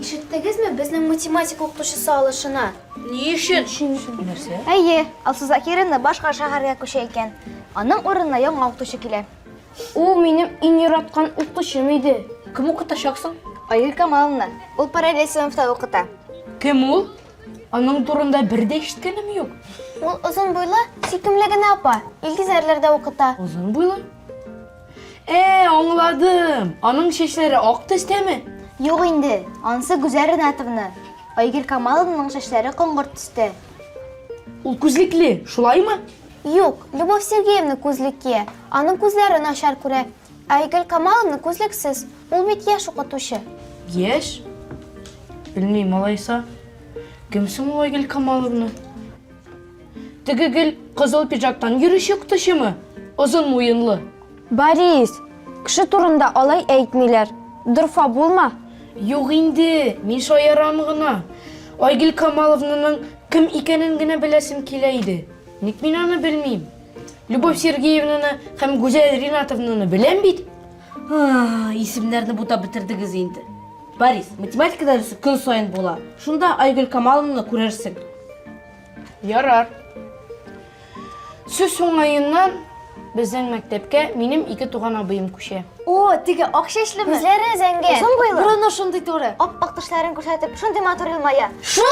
Ишеттегезме безнең математика укытучысы алышына? Ни өчен? Нәрсә? Әйе, Алсу Закирина башка шәһәргә күчә икән. Аның урынына яңа укытучы килә. Ул минем иң яраткан укытучым иде. Кем укытачаксың? Аил Камаловна. Ул параллель сыйныфта укыта. Кем ул? Аның турында бер дә ишеткәнем юк. Ул озын буйлы, сөйкемле генә апа. Илгиз әрләрдә укыта. Озын буйлы? Ә, аңладым. Аның чәчләре ак төстәме? Юк инде, ансы Гүзәл Ринатовна. Айгөл Камаловнаның чәчләре коңгырт төстә. Ул күзлекле, шулаймы? Юк, Любовь Сергеевна күзлек кия. Аның күзләре начар күрә. Ә Айгөл Камаловна күзлексез, ул бит яшь укытучы. Яшь? Белмим, малайса. Кем соң ул Айгөл Камаловна? Теге гел кызыл пиджактан йөрүче укытучымы? Озын муенлы. Борис, кеше турында алай әйтмиләр. Дорфа булма. Юк инде, мин шаярам гына. Айгөл Камаловнаның кем икәнен генә беләсем килә иде. Ник мин аны белмим? Любовь Сергеевнаны һәм Гүзәл Ринатовнаны беләм бит. А, исемнәрне бутап бетердегез инде. Борис, математика дәресе көн саен була. Шунда Айгөл Камаловнаны күрерсең. Ярар. Сүз уңаеннан безнең мәктәпкә минем ике туган абыем күчә. О, теге ак чәчлеме? Үзләре зәңгәр. Озын буйлы. Борыны шундый туры. Ап-ак тешләрен күрсәтеп, шундый матур елмая. Шул